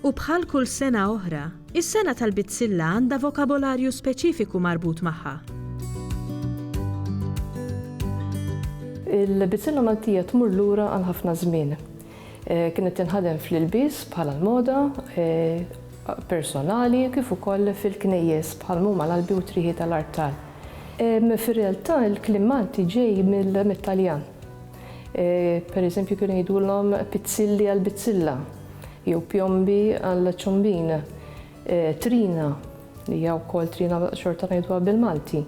U bħal kull sena oħra, is-sena tal-Bizzilla għandha vokabolarju speċifiku marbut magħha. Il-Bizzilla Maltija tmur lura għal ħafna żmien. Kienet tinħadem fl-ilbies bħala l-moda personali kif ukoll fil-knejjes bħal mhuma l-albi u t-trieħi tal-artal. Fir-realtà l-kliem Malti ġej mit-Taljan. Per eżempju kienu jgħidulhom pizzilli għal bizzilla jew pjombi għal ċombin, trina li hija wkoll trina xorta ngħiduha bil-Malti.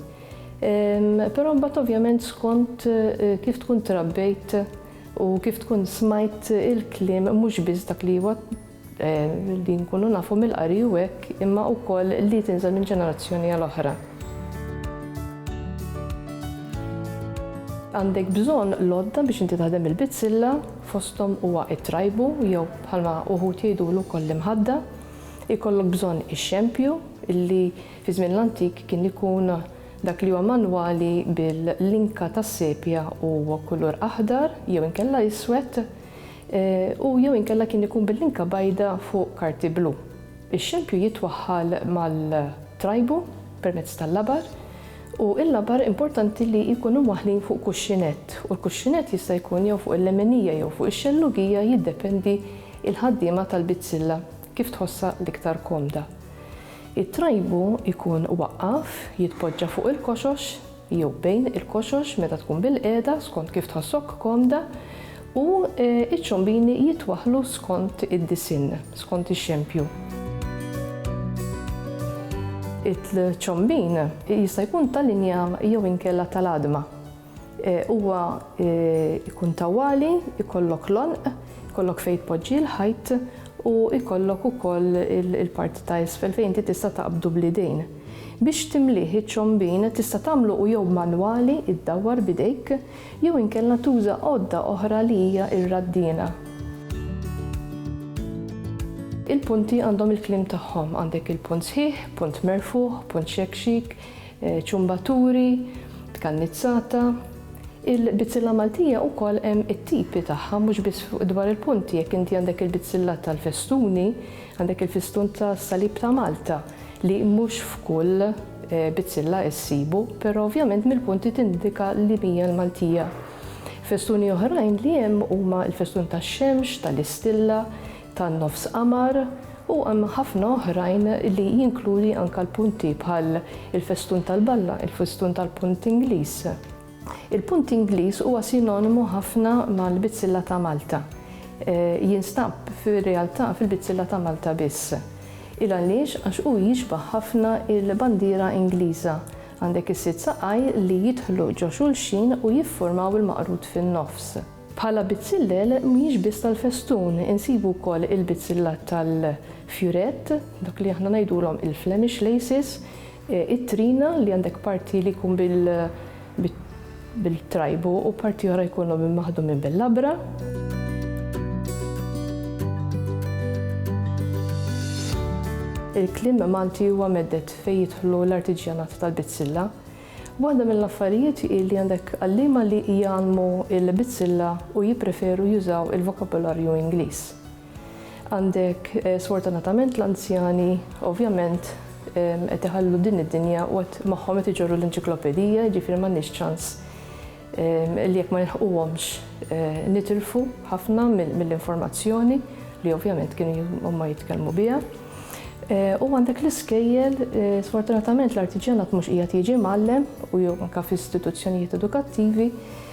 Però mbagħad ovvjament skont eh, kif tkun trabbejt u kif tkun smajt il-kliem mhux biss dak li huwa li nkunu nafu mill-qari u hekk, imma wkoll li tinżel minn ġenerazzjoni għal oħra. Għandek bżonn l-għodda biex inti taħdem il-bizzilla, fosthom huwa t-trajbu jew bħalma uħud jgħidulu wkoll l-imħadda. Ikollok bżonn ix-xempju illi fi żmien l-antik kien ikun dak li huwa manwali bil-linka tas-sepja u kulur aħdar jew inkella iswed. u jew inkella kien ikun bil-linka bajda fuq karti blu. Ix-xempju jitwaħħal mal-trajbu permezz tal-labar u l-labar importanti li jkunu mwaħħlin fuq kuxxinett u l-kuxxinett jista' jkun jew fuq il-lemenija jew fuq ix-xellugija jiddependi l-ħaddiema tal-bizzilla kif tħossha l-iktar komda. It-trajbu jkun waqqaf, jitpoġġa fuq il-koxox, jew bejn il-koxox meta tkun bilqiegħda skont kif tħossok komda u ċ-ċombini jitwaħħlu skont id-disinn, skont ix-xempju. Il-ċombin jista' jkun ta' linja jew inkella tal-għadma. Huwa jkun tawwali, ikollok l-għonq, ikollok fejn tpoġġi l-ħajt u jkollok ukoll il-parti ta' isfel fejn inti tista' taqbdu bl-idejn. Biex timlih iċ-ċombin tista' tagħmlu u jew manwali, iddawwar b'idejk, jew inkella tuża għodda oħra li hija r-raddiena. Il-punti għandhom il-kliem tagħhom, għandek il-punt sħiħ, punt merfugħ, punt xekxik, ċumbaturi, tkannizzata. Il-bizzilla Maltija wkoll hemm it-tipi tagħha mhux biss dwar il-punti, jekk inti għandek il-bizzilla tal-festuni, Għandek il-fistun tas-Salib ta' Malta li mhux f'kull bizzilla issibu, però ovvjament mill-punti tindika li mija l-Maltija. Festuni oħrajn li hemm huma l-festun tax-xemx, tal-istilla, tan-nofs qamar u hemm ħafna oħrajn li jinkludi anke l-punti bħal il-festun tal-balla, il-festun tal-punt Ingliż. Il-punt Ingliż huwa sinonimu ħafna mal-bizzilla ta' Malta. Jinstab fir-realtà fil-bizzilla ta' Malta biss. Il għaliex? Għax hu jixbah ħafna il-bandiera Ingliża. Għandek is-sitt saqaj li jidħlu ġo xulxin u jifformaw il-maqrud fin-nofs. Bħala bizzillel mhijiex biss tal-festun, insibu wkoll il-bizzilla tal-fjurett, dak li aħna ngħidulhom il-Flemish laces, It-trina li għandek parti li jkun bil-trajbu u parti oħra jkunu maħdumin bil-labra. Il-kliem Malti huwa mhedded fejn jidħlu l-artiġjanat tal-bizzilla. Waħda mill-affarijiet hi li għandek għalliema li jgħallmu l-bizzilla u jippreferu jużaw il-vokabularju Ingliż. Għandek sfortunatament l-anzjani ovvjament qed iħallu din id-dinja u qed magħhom qed iġorru l-enċiklopedija, jiġifieri m'għandniex ċans li jekk ma nilħquhomx nitilfu ħafna mill-informazzjoni li ovvjament kienu huma jitkellmu biha. U għandek l-iskejjel, sfortunatament l-artiġjanat mhux qiegħed jiġi mgħallem u jew anke f'istituzzjonijiet edukattivi,